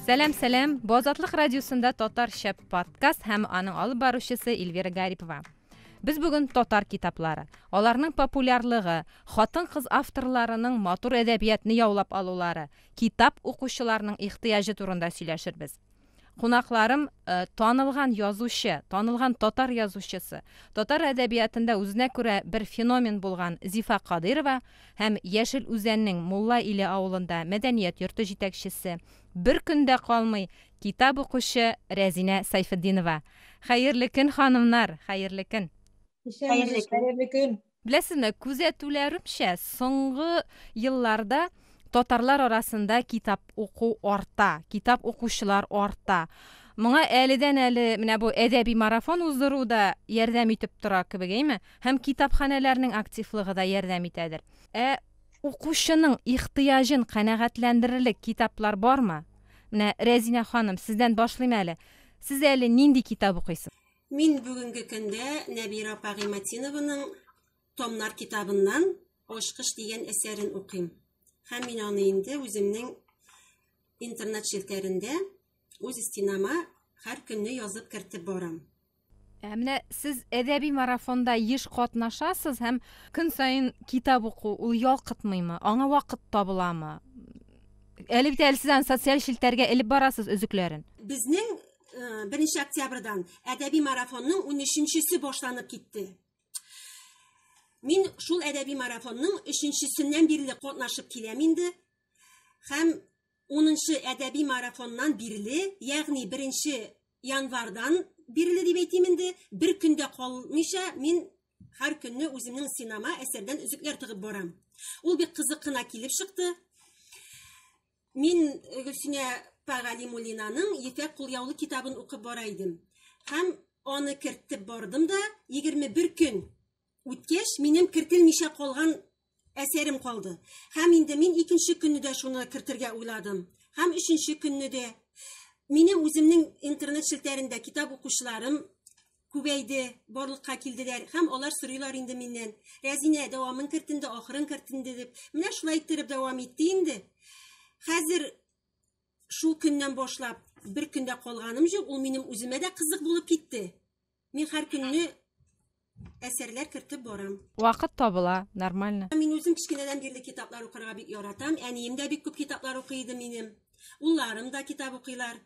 Сәлам, сәлам. Бу Азатлык радиосында татарча подкаст һәм аның алып баручысы Эльвира Гарипова. Без бүген татар китаплары, аларның популярлыгы, хатын-кыз авторларының матур әдәбиятны яулап алулары, китап укучыларның ихтыяҗы турында сөйләшербез. Кунакларым танылган язучы, танылган татар язучысы, татар әдәбиятында үзенә күрә бер феномен булган Зифа Кадыйрова һәм Яшел Үзәннең Мулла Иле авылында мәдәният йорты җитәкчесе, бер көн дә калмый, китап укучы Рәзинә Сайфетдинова. Хәерле көн, ханымнар! Хәерле көн! Исәнмесез, хәерле көн! Беләсезме, күзәтүләремчә, соңгы елларда татарлар арасында китап уку арта, китап укучылар арта. Моңа әледән-әле менә бу әдәби марафон уздыру да ярдәм итеп тора кебек, әйме? Һәм китапханәләрнең активлыгы да ярдәм итәдер. Ә укучының ихтыяҗын канәгатьләндерерлек китаплар бармы? Менә Рәзинә ханым, сездән башлыйм әле. Сез әле нинди китап укыйсыз? Мин бүгенге көндә Нәбира апа Гыйматинованың Томнар китабыннан Очкыш дигән әсәрен укыйм. Һәм мин аны инде үземнең интернет челтәрендә үз стенама һәр көнне язып кертеп барам. Ә менә сез әдәби марафонда еш катнашасыз һәм көн саен китап уку ул ялкытмыймы? Аңа вакыт табыламы? Әле бит әле сез аны социаль челтәргә элеп барасыз өзекләрен. Безнең 1 октябрьдан әдәби марафонның 13-нчесе башланып китте. Мин шул әдәби марафонның 3-нчесеннән бирле катнашып киләм инде. Һәм 10-нчы әдәби марафоннан бирле, ягъни 1 январьдан бирле дип әйтим инде, бер көндә калмыйча мин һәр көнне үземнең синама әсәрдән үзекләр тыгып барам. Ул бик кызык кына килеп чыкты. Мин Гөлсинә Пагалимулинаның Ефәк кулъяулы китабын укып бара идем. Һәм аны кертеп бардым да, 21 көн үткәч, минем кертелмичә калган әсәрем калды. Һәм инде мин икенче көнне дә шуны кертергә уйладым. Һәм өченче көнне дә. Мине үземнең интернет челтәрендә китап укучыларым күбәйде, барлыкка килделәр һәм алар сорыйлар инде миннән. Рәзинә дәвамын керт инде, ахырын керт инде дип. Менә шулай иттереп дәвам итте инде. Хәзер шул көннән башлап бер көндә калганым җук, ул минем үземә дә кызык булып китте. Мин һәр көнне әсәрләр кертеп барам. Вакыт табыла, нормально. Мин үзем кечкенәдән бирле китаплар укырга бик яратам. Әнием дә бик күп китаплар укый иде минем. Улларым да китап укыйлар.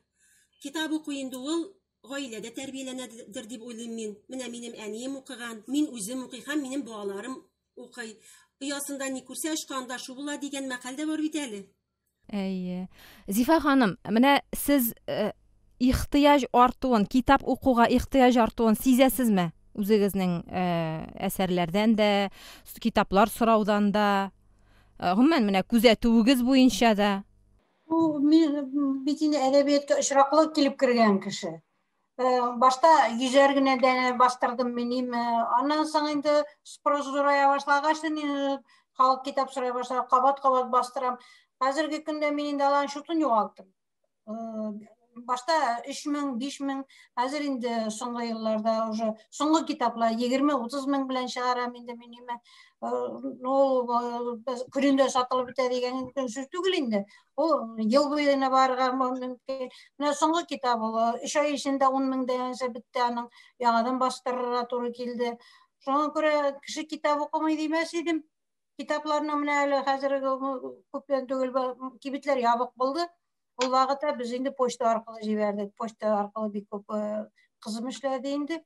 Китап уку инде ул гаиләдә тәрбияләнәдер дип уйлыйм мин. Менә минем әнием укыган, мин үзем укый һәм минем балаларым укый. Оясында ни күрсә очканда шу була дигән мәкаль дә бар бит әле. Әйе. Зифа ханым, менә сез э, ихтыяҗ артуын, китап укуга ихтыяҗ артуын сизәсезме? Үзегезнең э, әсәрләрдән дә, китаплар сораудан да, э, гомумән менә күзәтүегез буенча да. Бу мин бит инде әдәбиятка очраклы килеп кергән кеше. Э, башта йөзәр генә дә бастырдым минем. Э, аннан соң инде спрос зурая башлагач, инде халык китап сорый башлады, кабат-кабат бастырам. Хәзерге көндә мин инде аларның шутын югалттым. Э, башта 3000, 5000, хәзер инде соңгы елларда уже соңгы китаплар 20-30 мең белән чыгарам инде мин нимә. Э, ну, э, күрендә сатылып бетә дигән сүз түгел инде. Ул ел буена барырга мөмкин. Менә соңгы китап ул 3 ай эчендә 10 мең дигәнчә бетте аның. Яңадан бастырырга туры килде. Шуңа күрә кеше китап укымый димәс идем. Китапларның менә әле хәзерге күптән түгел кибетләр ябык булды. Ул вакытта без инде почта аркылы җибәрдек. Почта аркылы бик күп кызым эшләде инде.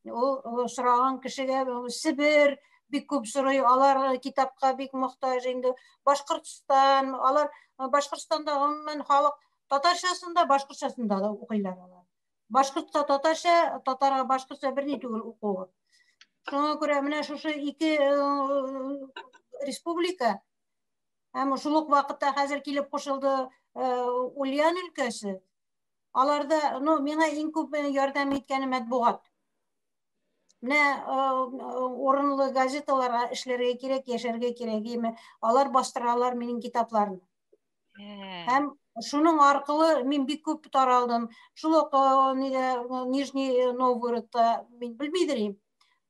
Ул сораган кешегә Себер бик күп сорый, алар китапка бик мохтаҗ инде. Башкортстан, алар Башкортстанда гомумән халык татарчасын да, башкортчасын да укыйлар алар. Башкортта татарча, татарга башкортча берни түгел укуы. Шуңа күрә менә шушы ике республика Һәм шул ук вакытта хәзер килеп кушылды Ульян өлкәсе. Аларда, ну, миңа иң күп ярдәм иткәне матбугат. Менә урынлы газеталарга эшләргә кирәк, яшәргә кирәк, яме алар бастыралар минем китапларны. Һәм шуның аркылы мин бик күп таралдым. Шул ук Нижний Новгородта мин белмидер идем.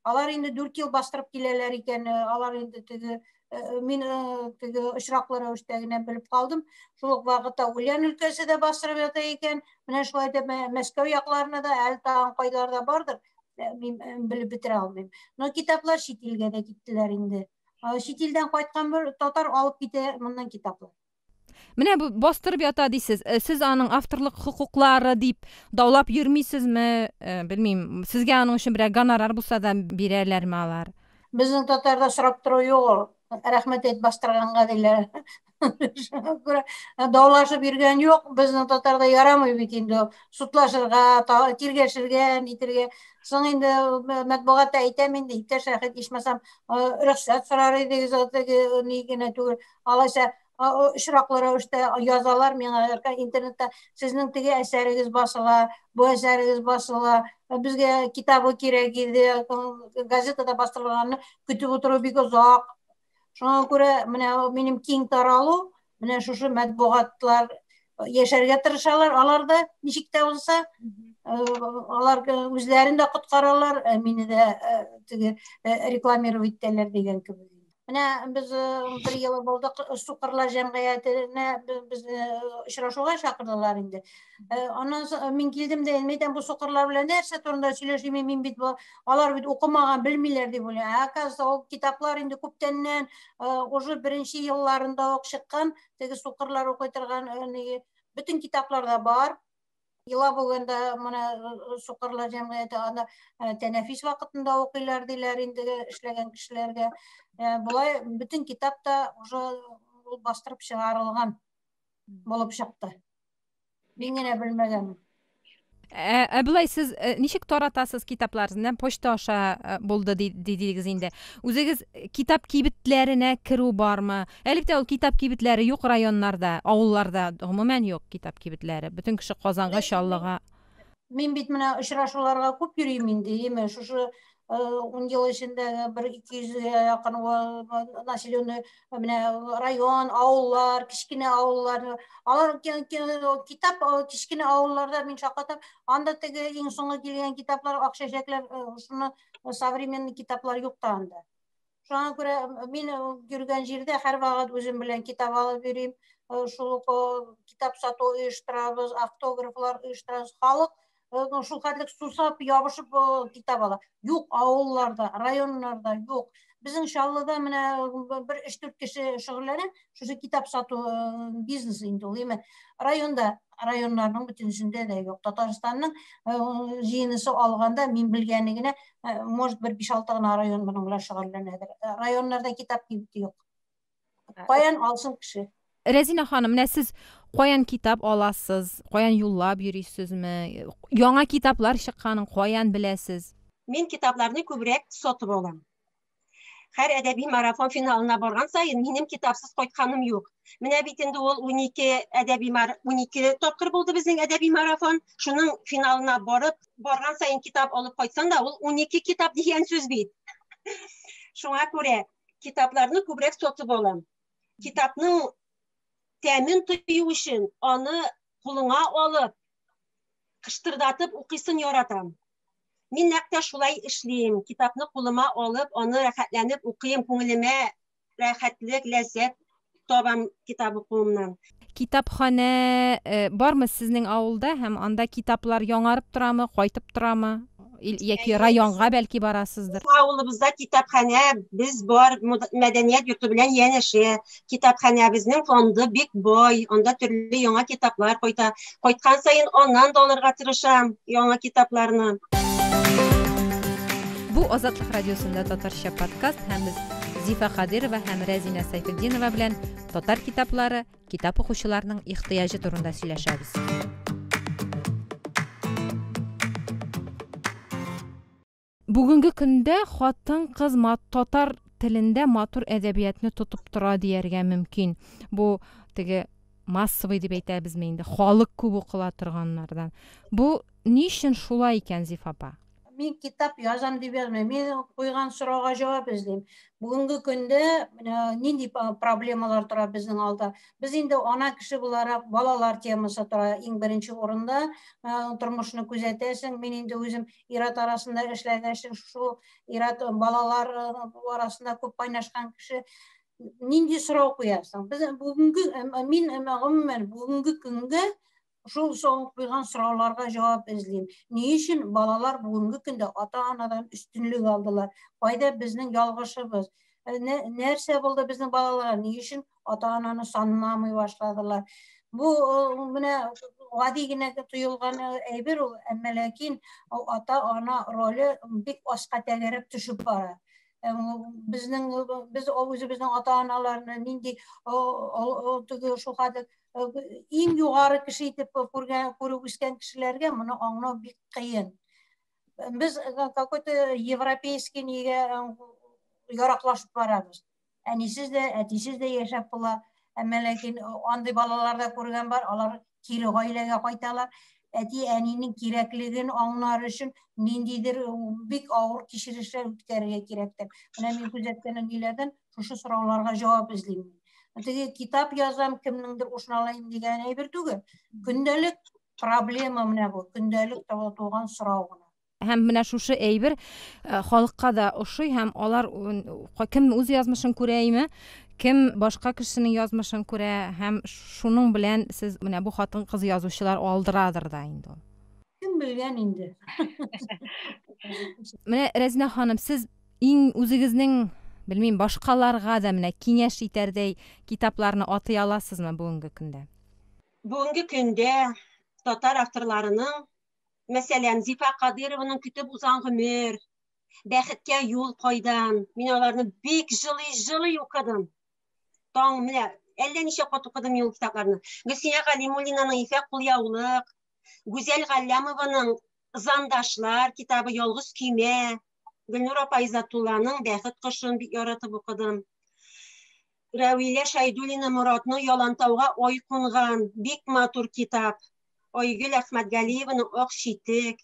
Алар инде 4 ел бастырып киләләр икән, э, алар инде теге э, э, мин теге очраклы рәвештә генә белеп калдым. Шул ук вакытта Ульян өлкәсе дә бастырып ята икән. Менә шулай итеп Мәскәү якларына да әле тагын кайларда бардыр, мин белеп бетерә алмыйм. Но китаплар чит илгә дә киттеләр инде. Чит илдән кайткан бер татар алып китә моннан китаплар. Менә бу бастырып ята дисез. Э, сез аның авторлык хокуклары дип даулап йөрмисезме? Э, белмим, сезгә аның өчен берәр гонорар булса да бирәләрме алар? Безнең татарда сорап тору юк ул. Рәхмәт әйт бастырганга диләр. Шуңа күрә э, даулашып йөргән юк. Безнең татарда ярамый бит инде судлашырга, тиргәшергә, нитергә. Соң инде э, матбугатта әйтәм инде, иптәш Рәхәт, ичмасам, рөхсәт сорар идегез, теге ни генә түгел, алайса очраклы рәвештә язалар миңа интернетта сезнең теге әсәрегез басыла бу әсәрегез басыла безгә китабы кирәк иде газетада бастырылганны көтеп утыру бик озак шуңа күрә менә минем киң таралу менә шушы матбугатлар яшәргә тырышалар алар да ничек тә булса алар үзләрен дә коткаралар мине дә теге рекламировать итәләр дигән кебек Менә без э, бер ел булдык э, Сукырлар җәмгыятенә без э, очрашуга чакырдылар инде. Аннан соң мин килдем дә мин әйтәм бу сукырлар белән нәрсә турында сөйләшим мин бит бу алар бит укымаган белмиләр дип уйлыйм. Ә оказывается ул китаплар инде күптәннән уже беренче елларында ук чыккан теге сукырлар укый торган бөтен китапларда бар. Ила бүгенде моны сукырлар җәмгыяте анда тәнәфис вакытында укыйлар диләр инде эшләгән кешеләргә. Болай бөтен китап та уже ул бастырып чыгарылган булып чыкты. Мин генә белмәгәнмен. Ә, ә болай сез ә, ничек таратасыз китапларны? Почта аша ә, булды дидегез инде. Үзегез китап кибетләренә керү бармы? Элек тә ул китап кибетләре юк районнарда, авылларда гомумән юк китап кибетләре. Бөтен кеше Казанга, Ләкин мин, Чаллыга. мин бит менә очрашуларга күп йөрим инде, яме шушы ун ел эчендә бер ике йөзгә якын населенный менә район, авыллар, кечкенә авыллар, алар китап кечкенә авылларда мин шаккатам, анда теге иң соңгы килгән китаплар, ак чәчәкләр, шуны современный китаплар юк та анда. Шуңа күрә мин йөргән җирдә һәрвакыт үзем белән китап алып йөрим. Шул ук китап сату оештырабыз, автографлар оештырабыз. Халык шул хәтлек сусап, ябышып китап ала. Юк авылларда, районнарда юк. Безнең Чаллыда менә бер 3-4 кеше шөгыльләнә, шушы китап сату э, бизнес инде ул эми районда районнарның бүтүнүсүндө да жок татарстанның э, жыйынысы алганда мен билгени генә э, может бир беш алты гана район менен белән шөгыльләнәдер районнарда китап кибети юк каян алсын кеше рәзинә ханым менә сез каян китап аласыз каян юллап йөрисезме яңа китаплар чыкканын каян беләсез мин китапларны күбрәк сатып алам Хәр әдәби марафон финалына барган саен минем китапсыз кайтканым юк. Менә бит инде ул 12 әдәби 12 тапкыр булды безнең әдәби марафон. Шуның финалына барып, барган саен китап алып кайтсаң да, ул 12 китап дигән сүз бит. Шуңа күрә китапларны күбрәк сатып алам. Китапның тәмен тою өчен аны кулыңа алып, кыштырдатып укыйсын яратам. Мин нәкъ тә шулай эшлим. Китапны кулыма алып, аны рәхәтләнеп укыйм, күңелемә рәхәтлек, ләззәт табам китап укуымнан. Китапханә э, бармы сезнең авылда һәм анда китаплар яңарып торамы, кайтып торамы? Ил- Яки Әйе, районга бәлки барасыздыр? Авылыбызда китапханә, без бар, мод- мәдәният йорты белән янәшә. китапханәбезнең фонды бик бай, анда төрле яңа китаплар кайта. Кайткан саен аннан да алырга тырышам яңа китапларны. Бу Азатлык радиосында татарча подкаст һәм без Зифа Хадирова һәм Рәзинә Сайфетдинова белән татар китаплары, китап укучыларның ихтыяҗы турында сөйләшәбез. Бүгенге көндә хатын-кыз татар телендә матур әдәбиятны тотып тора дияргә мөмкин. Бу теге массовый дип әйтәбезме инде, халык күп укыла торганнардан. Бу ни өчен шулай икән, Зиф апа? Мин китап язам дип язмыйм. Мин куйган сорауга җавап эзлим. Бүгенге көндә нинди проблемалар тора безнең алда? Без инде ана кеше буларак балалар темасы тора иң беренче урында. Тормышны күзәтәсең. Мин инде үзем ират арасында эшләгән кеше шул ират балалар арасында күп кайнашкан кеше нинди сорау куясың без бүгенге мин гомумән бүгенге көнгә шул соң куйган сорауларга җавап эзлим ни өчен балалар бүгенге көндә ата анадан өстенлек алдылар кайда безнең ялгышыбыз нәрсә булды безнең балаларга ни өчен ата ананы санламый башладылар бу менә гади генә тоелган әйбер ул әмма ләкин ата ана роле бик аска тәгәрәп төшеп бара безнең без үзебезнең ата аналарны нинди теге шул хәтле иң югары кеше итеп күргән күреп үскән кешеләргә моны аңлау бик кыен без какой то европейский нигә яраклашып барабыз әнисез дә, әтисез дә яшәп була. Әмма ләкин андый балалар да күргән бар, алар кире гаиләгә кайталар. Әти әнинең кирәклеген аңлар өчен ниндидер бик авыр кичерешләр үткәрергә кирәктер. Менә мин күзәткән ниләрдән шушы сорауларга җавап эзлим. Теге китап язам, кемнеңдер ушын алайым дигән әйбер түгел. Көндәлек проблема менә бу, көндәлек туган сорау гына. һәм менә шушы әйбер э, халыкка да ошый һәм алар кем үз язмышын күрә име кем башка кешенең язмышын күрә һәм шуның белән сез менә бу хатын кыз язучылар алдырадыр да инде ул кем белгән инде менә рәзинә ханым сез иң үзегезнең белмим башкаларга да менә киңәш итәрдәй китапларны атый аласызмы бүгенге көндә бүгенге көндә татар авторларының мәсәлән, Зифа Кадырованың көтеп узган гомер, бәхеткә юл кайдан. Мин аларны бик җылый-җылый укыдым. Таң менә әллә ничә кат укыдым юл китапларны. Гөлсия Галимуллинаның Ефәк кулъяулык, Гүзәл Галлямованың Зандашлар китабы Ялгыз көймә, Гөлнур апа Изатулланың Бәхет кошын бик яратып укыдым. Рәвилә Шәйдуллина Моратны ялантауга ой кунган, бик матур китап. Айгөл Әхмәтгалиеваның Ак читек.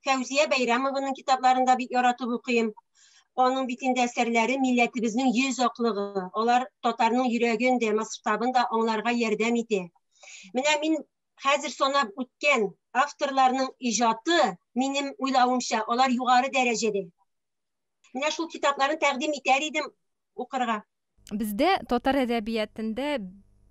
Фәүзия Бәйрәмованың китапларын да бик яратып укыйм. Аның бит инде әсәрләре милләтебезнең йөз аклыгы. Алар татарның йөрәген дә, масштабын да аңларга ярдәм итә. Менә мин хәзер санап үткән авторларның иҗаты, минем уйлавымча, алар югары дәрәҗәдә. Менә шул китапларын тәкъдим итәр идем. укырга. Бездә татар әдәбиятендә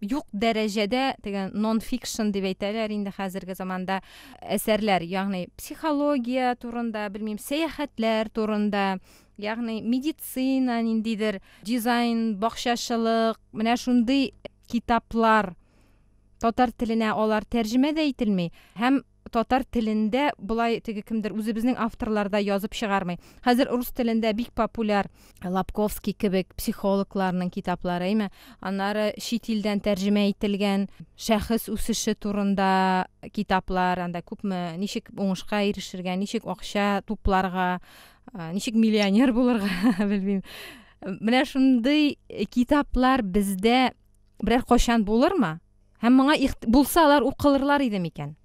юк дәрәҗәдә теге нон-фикшн дип әйтәләр инде хәзерге заманда әсәрләр, ягъни психология турында, белмим, сәяхәтләр турында, ягъни медицина, ниндидер дизайн, бакчачылык, менә шундый китаплар татар теленә алар тәрҗемә дә ителми һәм татар телендә болай теге кемдер үзебезнең авторларда язып чыгармый. Хәзер рус телендә бик популяр Лапковский кебек психологларның китаплары, әйме? Аннары чит илдән тәрҗемә ителгән шәхес үсеше турында китаплар, анда күпме ничек уңышка ирешергә, ничек акча тупларга, ничек миллионер булырга, белмим. Менә шундый китаплар бездә берәр кайчан булырмы? Һәм моңа ихт... булса алар укылырлар иде микән?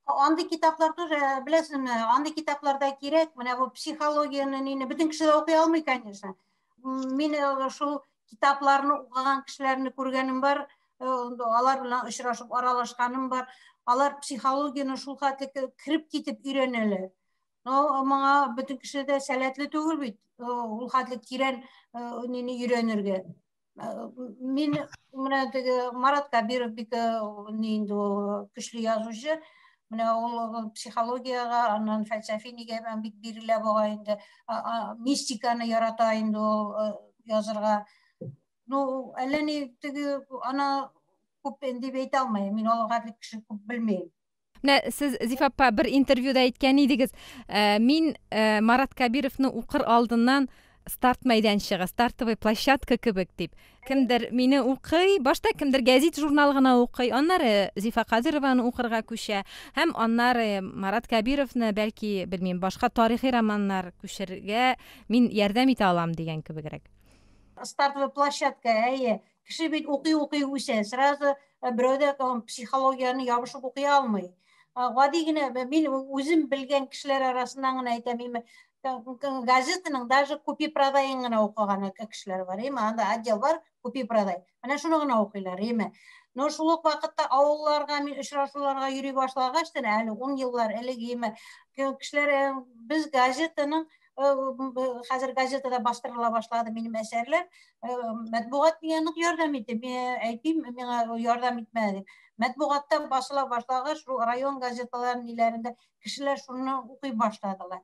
Андый китаплар тоже, э, беләсезме, андый китапларда кирәк, менә бу психологияне нине бөтен кеше дә укый алмый, конечно. Мин э, шул китапларны укыган кешеләрне күргәнем бар, э, алар белән очрашып аралашканым бар. Алар психологияне шул хәтле кереп китеп өйрәнәләр. Но моңа бөтен кеше дә сәләтле түгел бит, ул хәтле тирән нине өйрәнергә. мин менә теге марат кабиров бик ни инде ул көчле язучы менә ул психологиягә аннан фәлсәфи нигә бик бирелә буга инде мистиканы ярата инде ул язырга ну әллә ни теге ана күп дип әйтә алмыйм мин алга дип кеше күп белмим Менә сез Зиф апа бер интервьюда әйткән идегез, э, мин э, Марат Кабировны укыр алдыннан старт мәйданчыгы, стартовый площадка кебек дип. Кемдер мине укый, башта кемдер гәзит журнал гына укый, аннары Зифа Кадырованы укырга күчә һәм аннары Марат Кабировны, бәлки, белмим, башка тарихи романнар күчергә мин ярдәм итә алам дигән кебегрәк. Стартовый площадка, әйе. Кеше бит укый-укый үсә, сразу э, берәүдә психологияне ябышып укый алмый. Гади генә мин үзем белгән кешеләр арасыннан гына әйтәм, име газетаның даже купи продайын гына укыган кешеләр бар, име анда отдел бар, купи продай. Менә шуны гына укыйлар, име. Но шул ук вакытта авылларга мин очрашуларга йөри башлагач, әле 10 еллар элек име кешеләр э, без газетаның хәзер газетада бастырыла башлады минем әсәрләр матбугат миңа нык ярдәм итте мин әйтим миңа ярдәм итмәде матбугатта басыла башлагач шул район газеталарын ниләрендә кешеләр шуны укый башладылар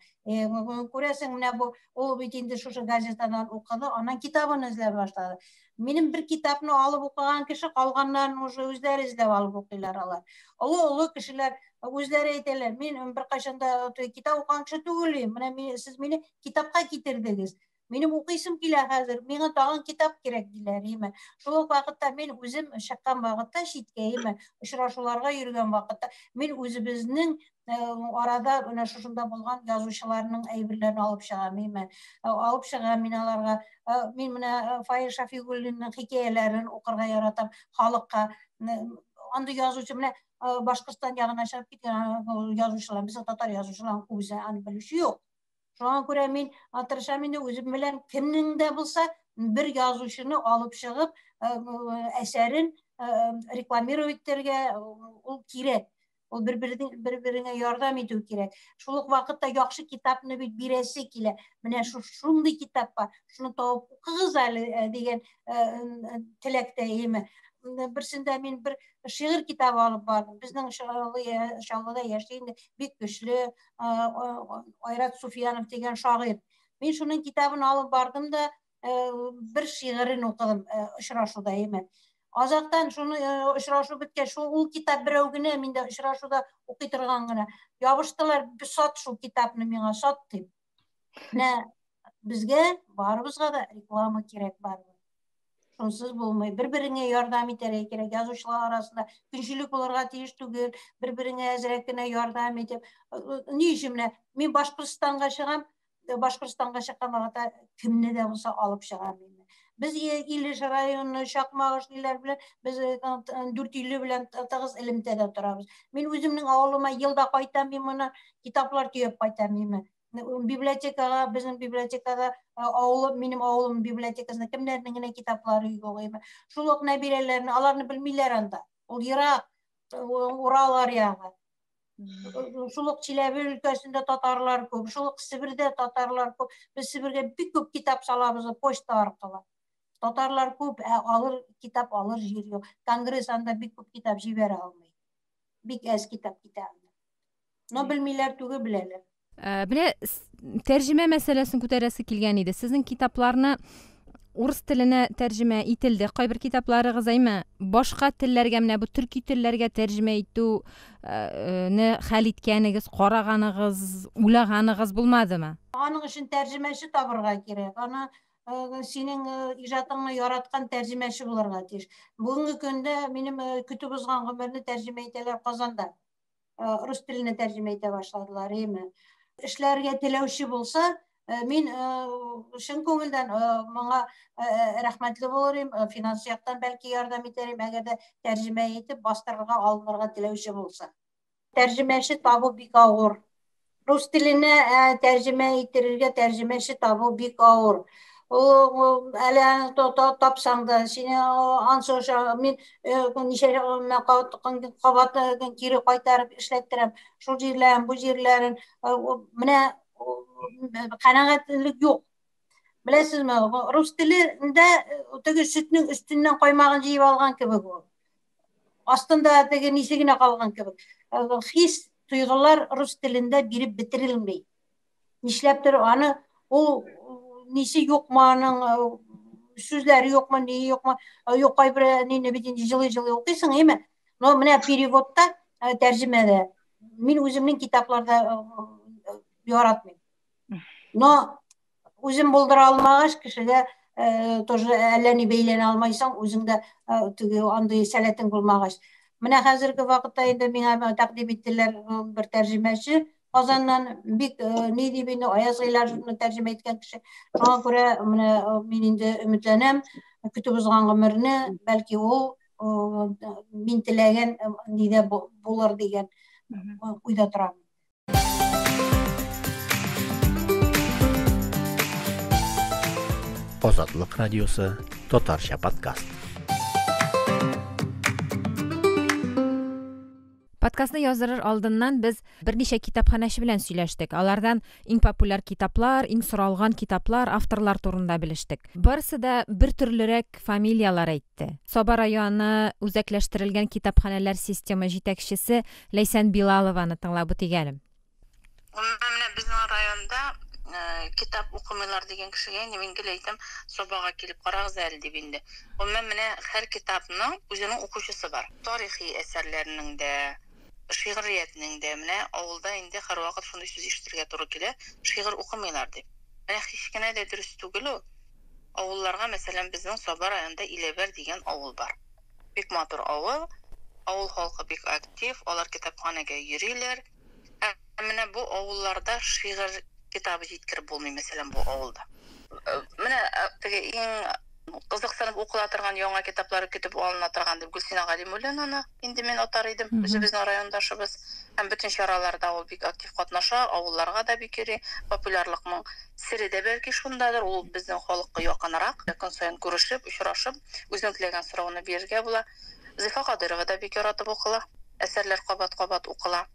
күрәсең менә бу ул бит инде шушы газетадан укыды анан китабын эзләп башлады Минем бер китапны алып укыган кеше калганнарын уже үзләре эзләп алып укыйлар алар. Олы олы кешеләр үзләре әйтәләр, мин беркайчан да китап укыган кеше түгел, менә мин сез мине китапка китердегез. Минем укыйсым килә хәзер, миңа тагын китап кирәк диләр, име. Шул ук вакытта мин үзем чыккан вакытта читкә, име, очрашуларга йөргән вакытта мин үзебезнең арада менә шушында булган язучыларның әйберләрен алып чыга миме алып чыга мин аларга мин менә фаил шафигуллинның хикәяләрен укырга яратам халыкка андый язучы менә башкортстан ягына чыгып киткән язучылар безнең татар язучыларын күбесе аны белүче юк шуңа күрә мин тырышам инде үзем белән кемнең дә булса бер язучыны алып чыгып әсәрен рекламировать итәргә ул кирәк ул бер бер береңә ярдәм итү кирәк шул ук вакытта яхшы китапны бит бирәсе килә менә шу шундый китап бар шуны табып укыгыз әле э, дигән э, э, теләктә яме берсендә мин бер шигырь китабы алып бардым безнең чаллыда яши инде бик көчле айрат суфиянов дигән шагыйрь мин шуның китабын алып бардым да бер шигырен укыдым очрашуда әймәт азактан шуны очрашу беткәч шул ул китап берәү генә миндә очрашуда укый торган гына ябыштылар сат шул китапны миңа сат дип менә безгә барыбызга да реклама кирәк барыбер шунсыз булмый бер береңә ярдәм итәргә кирәк язучылар арасында көнчелек булырга тиеш түгел бер береңә әзрәк кенә ярдәм итеп ни өчен менә мин башкортстанга чыгам Башкортстанга чыккан вакытта кемне дә булса алып чыгам инде. Без Илеш районы, Чакмагыш диләр белән, без 450 белән тыгыз элемтәдә торабыз. Мин үземнең авылыма елда кайтам, мин моны китаплар төяп кайтам мин. Библиотекага, безнең библиотекада авылым, минем авылым библиотекасында кемнәрнең генә китаплары юк иде. Шул ук Нәбирәләрне, аларны белмиләр анда. Ул ерак, Урал аръягы. шул ук чиләбе өлкәсендә татарлар күп шул ук себердә татарлар күп без себергә бик күп китап салабыз почта аркылы татарлар күп ә алыр китап алыр җир юк конгресс анда бик күп китап җибәрә алмый бик әз китап китә анда но белмиләр түгел беләләр Ә, менә тәрҗемә мәсьәләсен күтәрәсе килгән иде. Сезнең китапларны урыс теленә тәрҗемә ителде. Кайбер китапларыгыз әйме башка телләргә менә бу төрки телләргә тәрҗемә итүне э, э, хәл иткәнегез, караганыгыз, уйлаганыгыз булмадымы? Аның өчен тәрҗемәче табырга кирәк. Аны э, синең иҗатыңны яраткан тәрҗемәче булырга тиеш. Бүгенге көндә минем көтеп узган гомерне тәрҗемә итәләр Казанда. рус теленә тәрҗемә итә башладылар әйме эшләргә теләүче булса мин чын күңелдән моңа рәхмәтле булыр идем финанс яктан бәлки ярдәм итәр идем әгәр дә тәрҗемә итеп бастырырга алынырга теләүче булса тәрҗемәче табу бик авыр рус теленә ә, тәрҗемә иттерергә тәрҗемәче табу бик авыр әле тапсаң да сине ансоша мин ничә кабат кире кайтарып эшләттерәм шул җирләрен бу җирләрен менә канәгатьлек юк беләсезме рус телендә теге сөтнең өстеннән каймагын җыеп алган кебек ул Астында теге нисе генә калган кебек. Э, хис, тойгылар рус телендә биреп бетерелмей. Нишләптер аны ул нисе юкмы аның э, сүзләре юкмы, ни юкмы, э, юк кайбер әнине бит инде җылый-җылый укыйсың, әйме? Но менә переводта, э, тәрҗемәдә мин үземнең китапларда яратмыйм. Но үзен булдыра алмагач кешегә э, тоже әллә ни бәйләнә алмайсың үзең дә э, теге андый сәләтең булмагач менә хәзерге вакытта инде миңа тәкъдим иттеләр э, бер тәрҗемәче казаннан бик ни дип инде аяз гыйләҗевны тәрҗемә иткән кеше шуңа күрә менә мин инде өметләнәм көтеп узган гомерне бәлки ул мин теләгән нидә булыр дигән уйда торам Азатлык радиосы, татарча подкаст. Подкастны яздырыр алдыннан без берничә китапханәче белән сөйләштек. Алардан иң популяр китаплар, иң соралган китаплар, авторлар турында белештек. Барысы да бер төрлерәк фамилияләр әйтте. Саба районы үзәкләштерелгән китапханәләр системы җитәкчесе Ләйсән Билалованы тыңлап үтик әле. Гомумән, менә безнең районда китап укымыйлар дигән кешегә инде мин гел әйтәм, Сабага килеп карагыз әле дип инде. Гомумән, менә һәр китапның үзенең укучысы бар. Тарихи әсәрләрнең дә, шигъриятнең дә. Менә авылда инде һәрвакыт шундый сүз ишетергә туры килә, шигырь укымыйлар дип. Менә һич кенә дә дөрес түгел ул. Авылларга, мәсәлән, безнең Саба районында Иләбәр дигән авыл бар. Бик матур авыл. Авыл халкы бик актив, алар китапханәгә йөриләр. Ә менә бу авылларда шигырь китабы җиткереп булмый, мәсәлән, бу авылда. Менә теге иң кызыксынып укыла торган яңа китаплары көтеп алына торган дип Гөлсинә Галимуллинаны инде мин атар идем. Үзебезнең райондашыбыз һәм бөтен чараларда ул бик актив катнаша, авылларга да бик йөри, популярлыкның Сере дә бәлки шундадыр, ул безнең халыкка якынрак, көн саен күрешеп, очрашып, үзең теләгән сорауны бирергә була. Зифа Кадыйрова да бик яратып укыла, әсәрләр кабат-кабат укыла.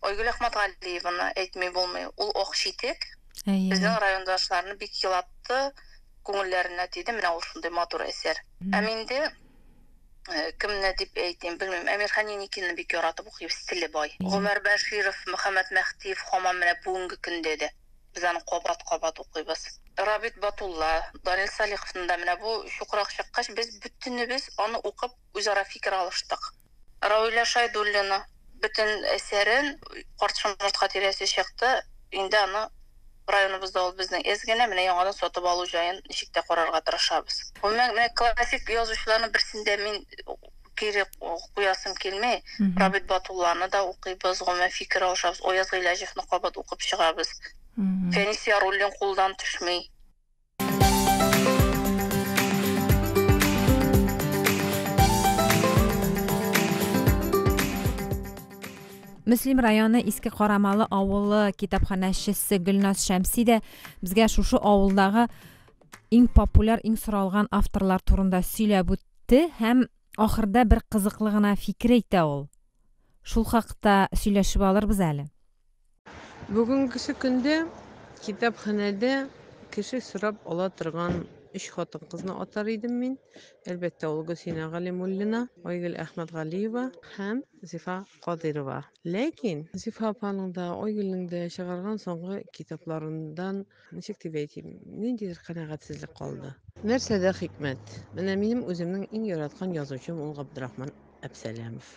Айгөл Әхмәтгалиеваны әйтми булмый, ул ак читек, Әйе. безнең райондашларны бик елатты, күңелләренә тиде, менә ул шундый матур әсәр. Ә минде кемне дип әйтим, белмим, Әмирхан Еникинны бик яратып укыйм, стиле бай. Гомәр Бәширов, Мөхәммәт Мәһдиев һаман менә бүгенге көндә дә. Без аны кабат-кабат укыйбыз. Рабит Батулла, Данил Салиховны да менә бу чукырак чыккач, без бөтенебез аны укып үзара фикер алыштык. Равилә Шайдуллина бөтен әсәрен Карт шомыртка тирәсе чыкты, инде аны районыбызда ул безнең эз генә, менә яңадан сатып алу җаен ничек тә карарга тырышабыз. Гомумән, менә классик язучыларның берсендә мин кире куясым килми рабит батулланы да укыйбыз гомумән фикер алышабыз ояз гыйләҗевны кабат укып чыгабыз фәнис яруллин кулдан төшми Мөслим районы Иске Карамалы авылы китапханәчесе Гөлназ Шәмси дә безгә шушы авылдагы иң популяр, иң соралган авторлар турында сөйләп үтте. Те һәм ахырда бер кызыклы гына фикер әйтә ул. Шул хакта сөйләшеп алырбыз әле. Бүгенгесе көндә китапханәдә кеше сорап ала торган өч хатын-кызны атар идем мин. Әлбәттә, ул Гөлсинә Галимуллина, Айгөл Әхмәтгалиева һәм Зифа Кадыйрова. Ләкин Зифа апаның да, Айгөлнең дә чыгарган соңгы китапларындан Ничек дип әйтим, ниндидер канәгатьсезлек калды. Нәрсәдә хикмәт? Менә минем үземнең иң яраткан язучым ул Габдрахман Әпсәләмов,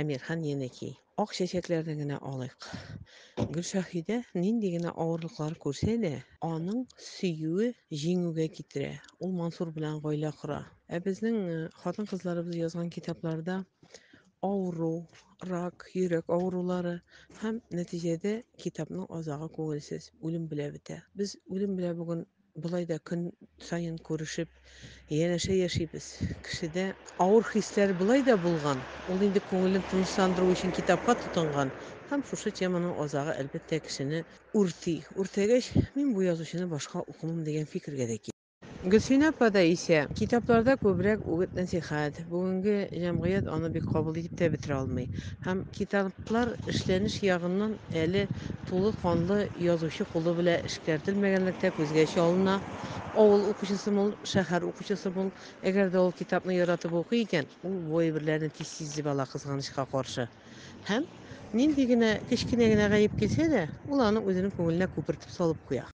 Әмирхан Енеки. Ак чәчәкләрне генә алыйк. Гөлшаһидә нинди генә авырлыклар күрсә дә, аның сөюе җиңүгә китерә. Ул Мансур белән гаилә кора. Ә безнең э, хатын-кызларыбыз язган китапларда авыру, рак, йөрәк авырулары һәм нәтиҗәдә китапның азагы күңелсез, үлем белән бетә. Без үлем белән бүген болай да көн саен күрешеп, янәшә яшибез. Кешедә авыр хисләр болай да булган, ул инде күңелен тынычландыру өчен китапка тотынган һәм шушы теманың азагы, әлбәттә, кешене үрти. Үртәгәч, мин бу язучыны башка укымыйм дигән фикергә дә килә. Гөлсинә апа да исә, китапларда күбрәк үгет-нәсыйхәт, бүгенге җәмгыять аны бик кабул итеп тә бетерә алмый. Һәм китаплар эшләнеш ягыннан әле тулы канлы язучы кулы белә эшкәртелмәгәнлектә күзгә чалына, авыл укучысы мул, шәһәр укучысы мул, әгәр дә ул китапны яратып укый икән, ул бу әйберләрне тиз сизеп ала, кызганычка каршы. Һәм нинди генә кечкенә генә гаеп килсә дә, ул аны үзенең күңеленә күпертеп салып куя.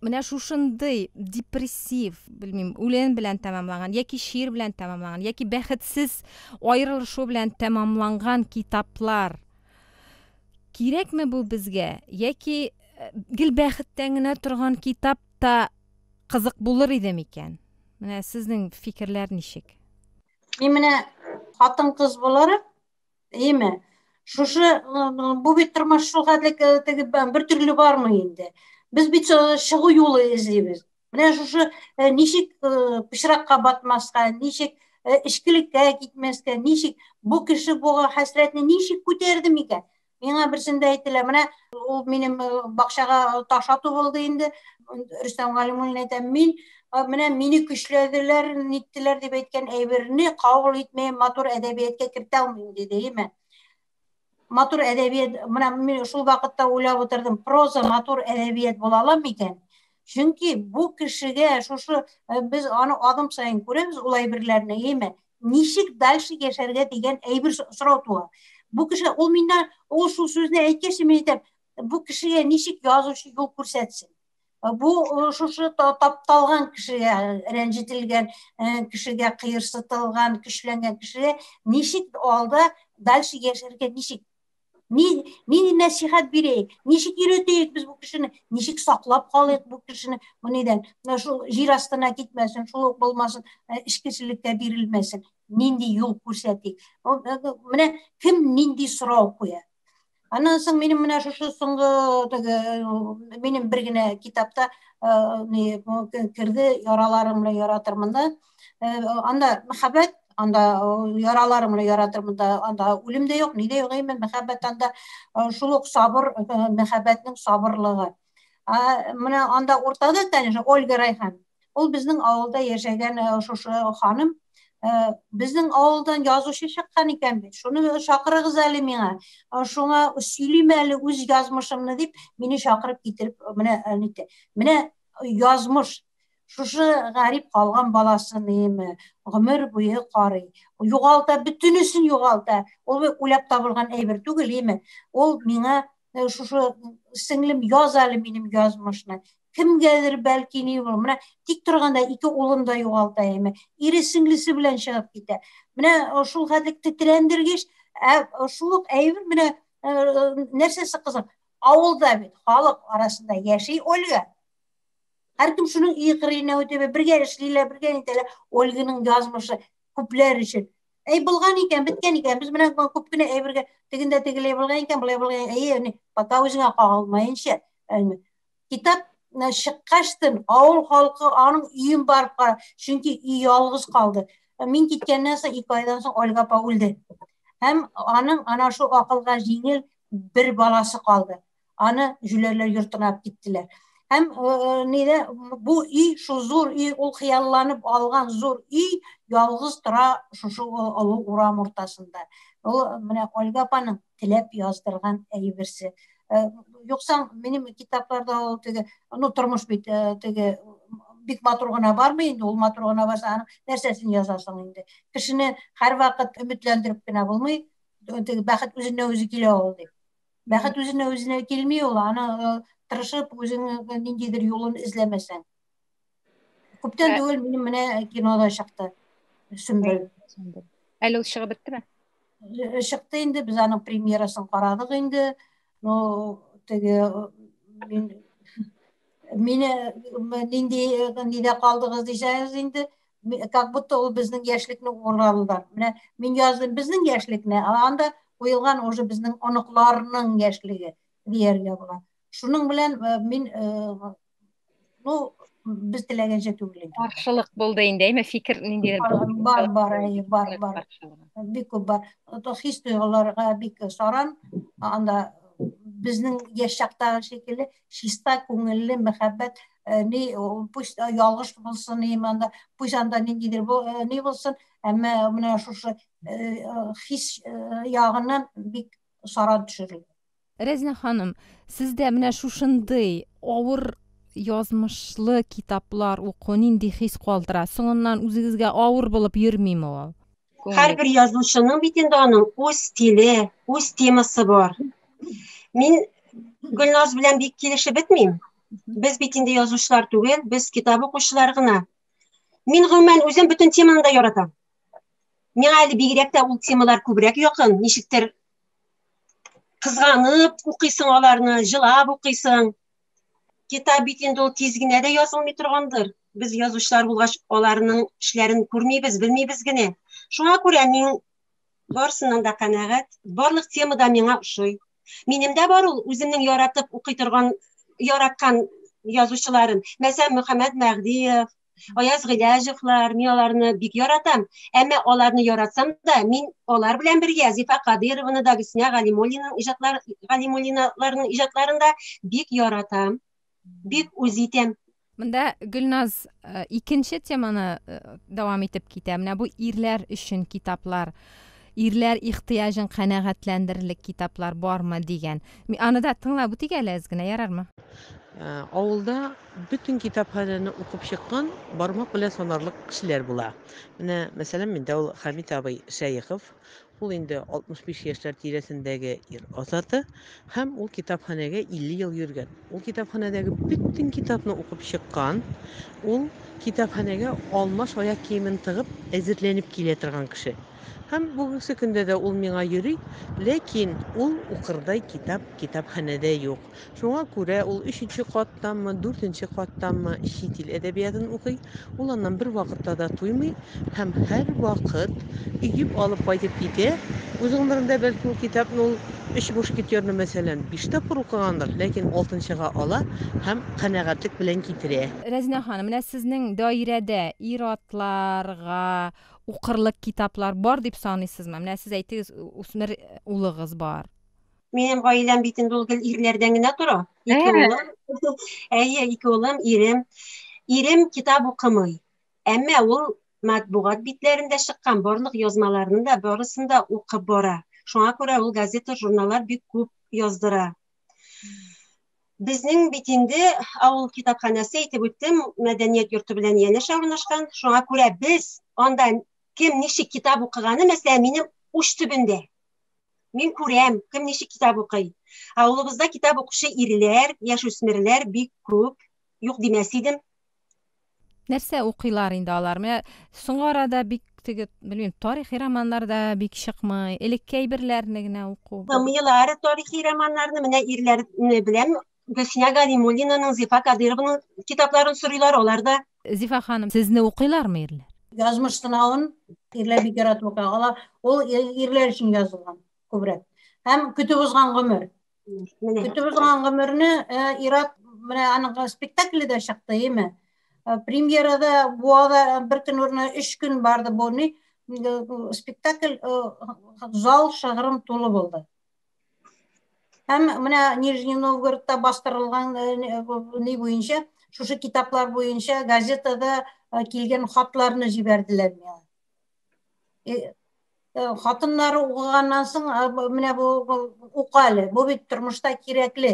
менә шушындый депрессив белмим үлен белән тәмамланган яки шиир белән тәмамланган яки бәхетсез аерылышу белән тәмамланган китаплар кирәкме бу безгә яки э, гел бәхеттән генә торган китап та кызык булыр иде микән менә сезнең фикерләр ничек мин менә хатын кыз буларак Әйеме? Шушы бу бит тормыш шул хәтлек теге бер төрле бармый инде. Без бит чыгу юлы эзлибез. Менә шушы ничек пычракка батмаска, ничек эчкелеккә китмәскә, ничек бу кеше бу хәсрәтне ничек күтәрде микән? Миңа берсендә әйтелә, менә ул минем бакчага таш ату булды инде. Рөстәм Галимуллин әйтә, мин менә мине көчләделәр, ниттеләр дип әйткән әйберне кабул итми, матур әдәбиятка кертә алмыйм диде, әйме. Матур әдәбият, менә мин шул вакытта уйлап утырдым, проза матур әдәбият була ала микән? Чөнки бу кешегә шушы э, без аны адым саен күрәбез ул әйберләрне, әйме. Ничек дальше яшәргә дигән әйбер сорау туа. Бу кеше ул миннән ул шул сүзне әйткәч, мин әйтәм, бу кешегә ничек язучы юл күрсәтсен? Бу шушы тапталган кешегә, рәнҗетелгән кешегә, кыерсытылган, көчләнгән кешегә ничек алда дальше яшәргә ничек? Ни ни нәсихәт бирәйек? Ничек йөртәйек без бу кешене? Ничек саклап калыйк бу кешене? Бу нидән? Менә шул җир астына китмәсен, шул ук булмасын, эчкечелеккә бирелмәсен. Нинди юл күрсәтик? Менә кем нинди сорау куя? Аннан соң минем менә шушы соңгы теге минем бер генә китапта ни керде яраларым белән яратырмын да. Анда мәхәббәт, анда яраларым белән яратырмын да, анда үлем дә юк, ни дә юк, әмма мәхәббәт анда шул ук сабыр мәхәббәтнең сабырлыгы. Менә анда уртада, конечно, Ольга Райхан. Ул безнең авылда яшәгән шушы ханым. Безнең авылдан язучы чыккан икән бит. Шуны чакырыгыз әле миңа. Шуңа сөйлим әле үз язмышымны дип, мине чакырып китереп, менә әните. Менә язмыш шушы гарип калган баласын иеме гомер буе карый югалта бөтенесен югалта ул үләп табылган әйбер түгел иеме ул миңа э, шушы сеңлем яз әле минем язмышны кемгәдер бәлки ни булыр менә тик торганда ике улын да югалта әйме ире сеңлесе белән чыгып китә менә э, шул хәтлек тетрәндергеч ә шул ук әйбер менә э, нәрсәсе кызык авылда бит халык арасында яши ольга һәркем шуның иыгырына үтәбе бергә эшлиләр бергә нитәләр ольганың язмышы күпләр өчен Әй булган икән, беткән икән. Без менә күп кенә әйбергә тегендә тегеләй булган икән, булай булган. Әйе, ни, пока үзеңә кагылмаенча. Китап чыккачтын авыл халкы аның өен барып кара, чөнки өй ялгыз калды. Мин киткәннән соң ике айдан соң Ольга апа үлде. Һәм аның ана шул акылга җиңел бер баласы калды. аны җүләрләр йортына алып киттеләр һәм нидә бу өй шул зур өй ул хыялланып алган зур өй ялгыз тора шушы олы урам уртасында ул менә ольга апаның теләп яздырган әйберсе юкса минем китапларда ул теге ну тормыш бит теге бик матур гына бармы инде ул матур гына барса аның нәрсәсен язасың инде кешене һәрвакыт өметләндереп кенә булмый теге бәхет үзеннән үзе килә ул дип Бәхет үзенә үзенә килми ул, аны э, тырышып үзеңнең ниндидер юлын эзләмәсәң. Күптән түгел минем менә кинода чыкты. Сөмбел. Әле ул чыгып беттеме? Э, чыкты инде, без аның премьерасын карадык инде. Ну, теге э, мин мине нинди нидә калдыгыз дисәгез инде как будто ул безнең яшьлекне уралыйлар. Менә мин яздым безнең яшьлекне, ә анда куелган уже безнең оныкларның яшьлеге дияргә була. Шуның белән э, мин э, ну без теләгәнчә түгел инде. Каршылык булды инде, әйме фикер ниндидер бар бар, әйе, бар бар. Бик күп бар. Хис тойгыларга бик саран, анда безнең яшь чактагы шикелле чиста күңелле мәхәббәт э, ни пусть э, ялгыш булсын ни монда пусть анда ниндидер э, ни булсын әмма менә шушы хис ягыннан бик саран төшерелә Рәзинә ханым, сездә менә шушындый авыр язмышлы китаплар уку нинди хис калдыра? Соңыннан үзегезгә авыр булып йөрмиме ул? Һәрбер язучының бит инде аның үз стиле, үз темасы бар. Мин Гөлназ белән бик килешеп бетмим. Без бит инде язучылар түгел, без китап укучылар гына. Мин гомумән үзем бөтен теманы да яратам. Миңа әле бигрәк тә ул темалар күбрәк якын, ничектер кызганып укыйсың аларны, җылап укыйсың. китап бит инде ул тиз генә дә язылмый торгандыр. Без язучылар булгач, аларның эшләрен күрмибез, белмибез генә. Шуңа күрә мин барсыннан да канәгать, барлык тема да миңа ошый. Минемдә бар ул үземнең яратып укый торган, яраткан язучыларым. Мәсәлән, Мөхәммәд Мәгъдиев, Аяз Гыйләҗевлар, мин аларны бик яратам. Әмма аларны яратсам да, мин алар белән бергә Зифа Кадырованы да, Гөлсинә Галимуллинаның иҗатлар Галимуллиналарның иҗатларын да бик яратам. Бик үз итәм. Монда Гөлназ э, икенче теманы э, дәвам итеп китә. Менә бу ирләр өчен китаплар. Ирләр ихтыяҗын канәгатьләндерерлек китаплар бармы? дигән. Мин аны да тыңлап үтик әле әз генә, ярармы? Авылда бөтен китапханәне укып чыккан бармак белән санарлык кешеләр була. Менә, мәсәлән, миндә ул Хәмит абый Шәехов. Ул инде 65 яшьләр тирәсендәге ир-ат заты. Һәм ул китапханәгә 50 ел йөргән. Ул китапханәдәге бөтен китапны укып чыккан, ул китапханәгә алмаш аяк киемен тыгып, әзерләнеп килә торган кеше. Һәм бүгенге көндә дә ул миңа йөри, ләкин ул укырдай китап китапханәдә юк. Шуңа күрә ул өченче каттанмы, дүртенче каттанмы чит ил әдәбиятын укый. Ул аннан бервакытта да туймый. Һәм һәрвакыт өеп алып кайтып китә. Үз гомерендә, бәлки, ул китапны ул өч мушкетерны, мәсәлән, биш тапкыр укыгандыр, ләкин алтынчыга ала һәм канәгатьлек белән китерә. Рәзинә ханым, менә сезнең даирәдә ир-атларга укырлык китаплар бар дип саныйсызмы? Менә сез әйтегез, үсмер улыгыз бар. Минем гаиләм бит инде ул гел ирләрдән генә тора. Ике улым, әйе, ике улым, ирем. Ирем китап укымый. Әмма ул матбугат битләрендә чыккан барлык язмаларны да барысын да укып бара. Шуңа күрә ул газета, журналлар бик күп яздыра. Безнең бит инде авыл китапханәсе әйтеп үттем, мәдәният йорты белән янәшә урнашкан. Шуңа күрә без анда кем ничек китап укыганы, мәсәлән, минем уч төбендә. Мин күрәм, кем ничек китап укый. Авылыбызда китап укучы ирләр, яшүсмерләр бик күп. Юк димәс идем. Нәрсә укыйлар инде алар? Менә соңгы арада бик теге, белмим, тарихи романнар да бик чыкмый. Элекке әйберләрне генә уку. Тыңлыйлар тарихи романнарны, менә ирләрне белән Гөлсинә Галимуллинаның, Зифа Кадыйрованың китапларын сорыйлар, алар да. Зифа ханым, сезне укыйлармы ирләр? Язмыш сынавын ирләр бик яратып укый. Алар ул ирләр өчен язылган күбрәк. Һәм көтеп узган гомер. Менә. Көтеп узган гомерне Ират менә аның спектакле дә чыкты, име? Премьерада буада бер көн урны 3 көн барды бу ни спектакль зал шыгрым тулы булды. Һәм менә Нижний Новгородта бастырылган ни буенча, шушы китаплар буенча газетада килгән хатларны җибәрделәр миңа. Э, хатыннары укыганнан соң э, менә бу ука әле бу бит тормышта кирәкле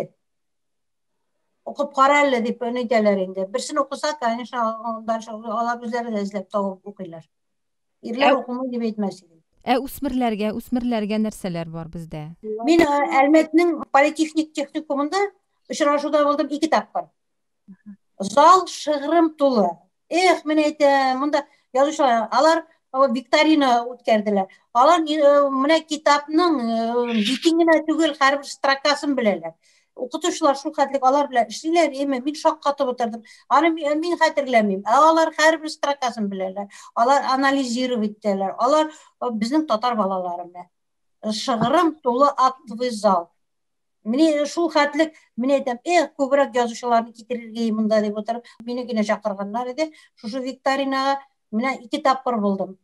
укып кара әле дип әйтәләр инде берсен укыса конечно андан алар үзләре дә эзләп табып укыйлар ирләр укымый дип әйтмәс идем ә үсмерләргә үсмерләргә нәрсәләр бар бездә мин э, әлмәтнең политехник техникумында очрашуда булдым ике тапкыр Зал шыгрым тулы. Эх, мен әйтәм, монда язучылар, алар викторина үткәрделәр. Алар менә китапның битен генә түгел, һәрбер строкасын беләләр. Укытучылар шул хәтлек алар белән эшлиләр, яме мин шаккатып утырдым. Аны мин хәтерләмим. Ә алар һәрбер строкасын беләләр. Алар анализировать итәләр. Алар безнең татар балалары менә. Шыгрым тулы актовый зал. Менә шул хәтлек, менә әйтәм, эх, күбрәк язучыларны китерергә монда дип утырып, мине генә чакырганнар иде. Шушы викторинага менә ике тапкыр булдым.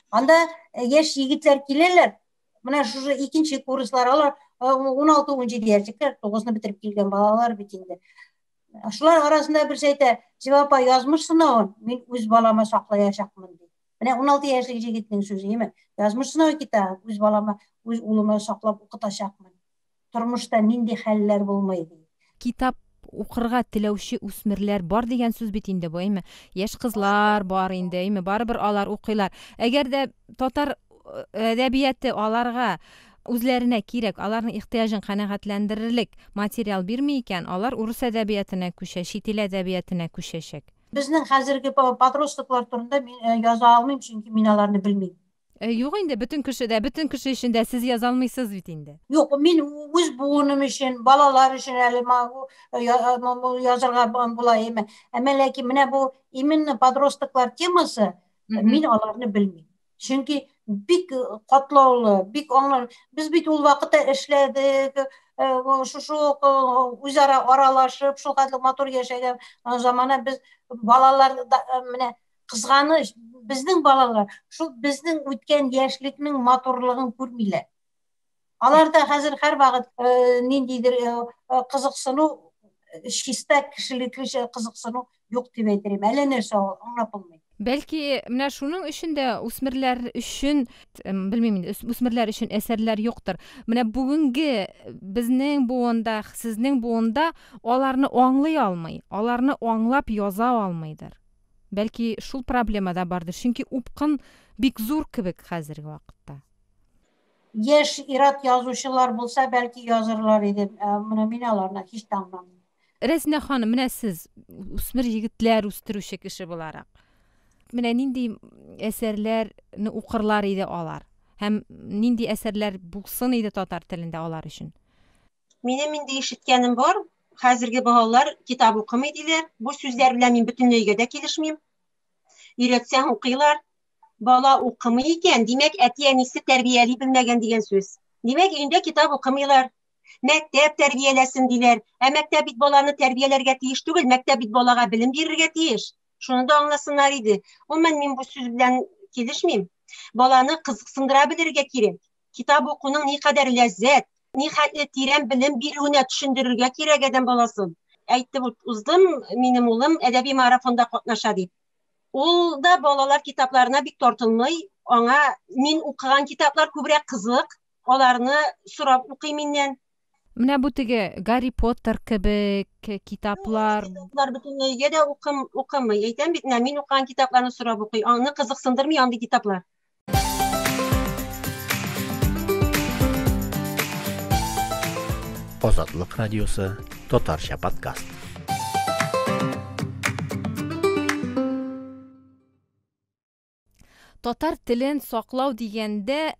Анда э, яшь егетләр киләләр, менә шушы икенче курслар, алар 16-17 э, яшьлекләр, 9-ны бетереп килгән балалар бит инде. Шулар арасында берсе әйтә, Зива апа, язмыш сынавын мин үз балама саклаячакмын ди. Менә 16 яшьлек егетнең сүзе, яме, язмыш сынавы китә, үз балама, үз улыма саклап укытачакмын. тормышта нинди хәлләр булмый ди. Китап укырга теләүче үсмерләр бар дигән сүз бит инде бу, әйме? Яшь кызлар бар инде, әйме? Барыбер алар укыйлар. Әгәр дә татар әдәбияте аларга үзләренә кирәк, аларның ихтыяҗын канәгатьләндерерлек материал бирми икән, алар урыс әдәбиятына күчә, чит ил әдәбиятына күчәчәк. Безнең хәзерге подростоклар турында мин яза алмыйм, чөнки мин аларны белмим. Э, юк инде бөтен кеше дә бөтен кеше өчен дә сез яза алмыйсыз бит инде Юк, мин үз буыным өчен, балалар өчен әле могу э, э, язырга була име. Әмма ләкин менә бу именно подростоклар темасы, мин аларны белмим. Чөнки бик катлаулы, бик аңлар. Без бит ул вакытта эшләдек, шушы үзара аралашып, шул хәтле матур яшәгән замана без балалар менә кызганыч, безнең балалар шул безнең үткән яшьлекнең матурлыгын күрмиләр. Алар да хәзер һәрвакыт э, ниндидер э, э, кызыксыну чиста кешелеклечә кызыксыну юк дип әйтәм. Әллә нәрсә ул аңлап булмый. Бәлки менә шуның өчен дә үсмерләр өчен белмим инде үсмерләр өчен әсәрләр юктыр. Менә бүгенге безнең буында, сезнең буында аларны аңлый алмый, аларны аңлап яза алмыйдыр. Бәлки шул проблема да бардыр, чөнки упкын бик зур кебек хәзерге вакытта. Яшь ират язучылар булса, бәлки язырлар иде. Ә, Менә мин аларны һич тә аңламыйм. Рәзинә ханым, менә сез үсмер егетләр үстерүче кеше буларак, менә нинди әсәрләрне укырлар иде алар һәм нинди әсәрләр булсын иде татар телендә алар өчен? Минем инде ишеткәнем бар, хәзерге балалар китап укымый диләр. Бу сүзләр белән мин бөтенләйгә дә килешмим. Өйрәтсәң укыйлар. Бала укымый икән, димәк, әти-әнисе тәрбияли белмәгән дигән сүз. Димәк, өендә китап укымыйлар. Мәктәп тәрбияләсен диләр. Ә мәктәп бит баланы тәрбияләргә тиеш түгел, мәктәп бит балага белем бирергә тиеш. Шуны да аңласыннар иде. Гомумән, мин бу сүз белән килешмим. Баланы кызыксындыра белергә кирәк. китап укуның никадәр ләззәт, нихәтле тирән белем бирүенә төшендерергә кирәк адәм баласын. Әйтеп уздым, минем улым әдәби марафонда катнаша дип. Ул да балалар китапларына бик тартынмый, аңа мин укыган китаплар күбрәк кызык, аларны сорап укый миннән. Менә бу теге Гарри Поттер кебек китаплар. Китаплар бөтенләй өйгә дә укым, укымый. Әйтәм бит, менә мин укыган китапларны сорап укый. Аны кызыксындырмый андый китаплар. Азатлык радиосы, татарча подкаст. Татар телен саклау дигәндә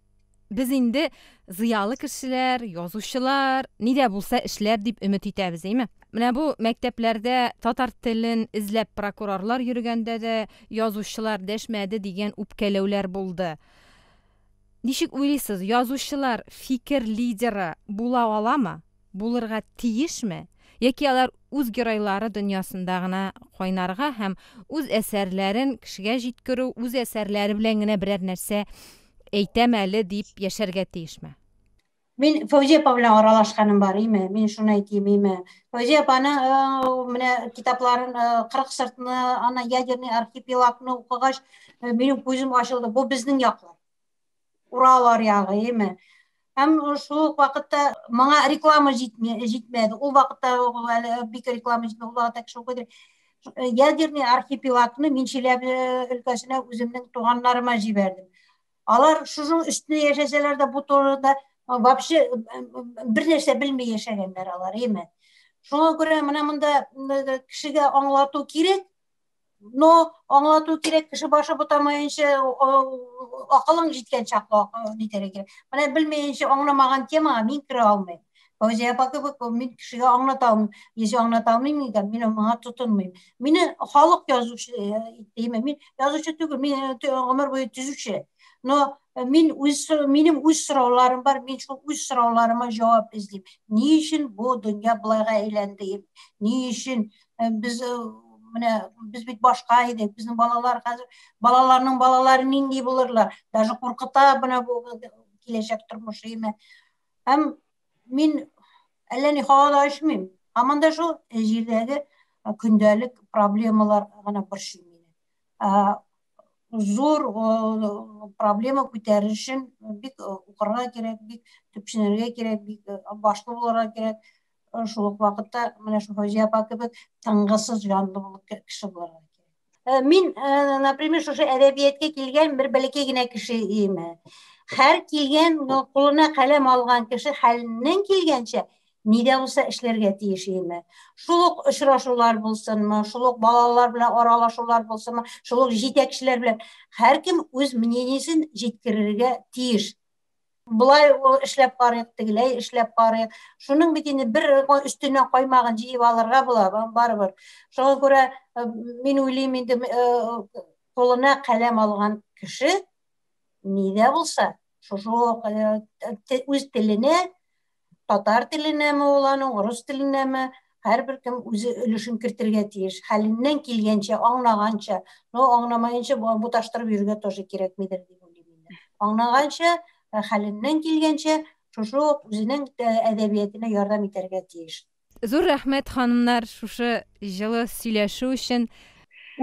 без инде зыялы кешеләр, язучылар, нидә булса эшләр дип өмет итәбез, әйме? Менә бу мәктәпләрдә татар телен эзләп прокурорлар йөргәндә дә язучылар дәшмәде дигән үпкәләүләр булды. Ничек уйлыйсыз, язучылар фикер лидеры була аламы? Булырга тиешме? Яки алар үз геройлары дөньясында гына кайнарга һәм үз әсәрләрен кешегә җиткерү, үз әсәрләре белән генә берәр нәрсә әйтәм әле дип яшәргә тиешме? Мин Фәүзия апа белән аралашканым бар, име? Мин шуны әйтим, име? Фәүзия апаны э, менә китапларын 40 э, сыртны, ана ядерный архипелагны укыгач, э, минем күзем ачылды. Бу безнең яклар. Уралар ягы, име? Һәм шул ук вакытта моңа реклама җитмәде. Ул вакытта әле бик реклама җитмәде. Ул вакытта кеше укыды. Ядерный архипелагны мин Чиләбе өлкәсенә үземнең туганнарыма җибәрдем. Алар шушының өстенә яшәсәләр дә бу турыда вообще бер нәрсә белми яшәгәннәр алар, әйме. Шуңа күрә менә монда кешегә аңлату кирәк, но аңлату кирәк кеше башы бутамаенча акылың җиткән чакта нитәргә кирәк. Менә белмәенчә аңламаган темага мин керә алмыйм. Фәүзия апа кебек мин кешегә аңлата алмыйм. Если аңлата алмыйм икән, мин моңа тотынмыйм. Мине халык язучы димә, мин язучы түгел, мин гомер буе төзүче. Но мин үз минем үз сорауларым бар, мин шул үз сорауларыма җавап эзлим. Ни өчен бу дөнья булайга әйләнде? Ни өчен без менә без бит башка идек, безнең балалар хәзер балаларның балалары нинди булырлар? Даже куркыта менә бу киләчәк тормышы име? Һәм мин әллә ни һава да очмыйм. Һаман да шул җирдәге көндәлек проблемалар гына борчый мине. Зур проблема күтәрер өчен бик укырга кирәк, бик төпченергә кирәк, бик башлы булырга кирәк. Шул ук вакытта менә шул Фәүзия апа кебек тынгысыз җанлы булып кеше булырга кирәк. Э, мин э, например шушы әдәбиятка килгән бер бәләкәй генә кеше име һәр килгән кулына каләм алган кеше хәленнән килгәнчә ни дә булса эшләргә тиеш име шул ук очрашулар булсынмы шул ук балалар белән аралашулар булсынмы шул ук җитәкчеләр белән һәркем үз мнениесен җиткерергә тиеш Болай эшләп карыйк, тегеләй эшләп карыйк. Шуның бит инде бер өстенә каймагын җыеп алырга була, барыбер. Шуңа күрә э, мин уйлыйм инде кулына э, каләм алган кеше нидә булса, шушы э, үз теленә татар теленәме ул аның, урыс теленәме, һәрбер кем үзе өлешен кертергә тиеш. Хәленнән килгәнчә, аңлаганча, но аңламаенча бу буташтырып йөрергә тоже кирәкмидер дип уйлыйм инде. Аңлаганча, хәленнән килгәнчә, шушы ук үзенең әдәбиятына ярдәм итәргә тиеш. Зур рәхмәт, ханымнар, шушы җылы сөйләшү өчен.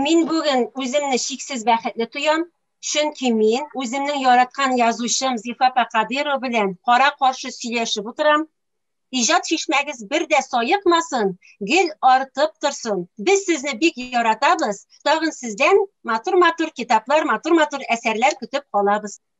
Мин бүген үземне чиксез бәхетле тоям, чөнки мин үземнең яраткан язучым Зифа апа Кадыйрова белән кара-каршы сөйләшеп утырам. Иҗат чишмәгез бер дә саекмасын, гел артып торсын. Без сезне бик яратабыз, тагын сездән матур-матур китаплар, матур-матур әсәрләр көтеп калабыз.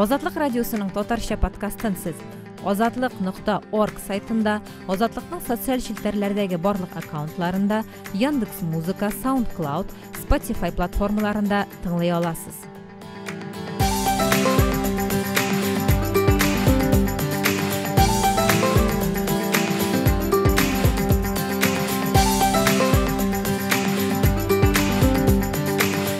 Азатлык радиосының татарча подкастын сез азатлык нокта орг сайтында азатлыкның социаль челтәрләрдәге барлык аккаунтларында яндекс музыка саундклауд spotify платформаларында тыңлый аласыз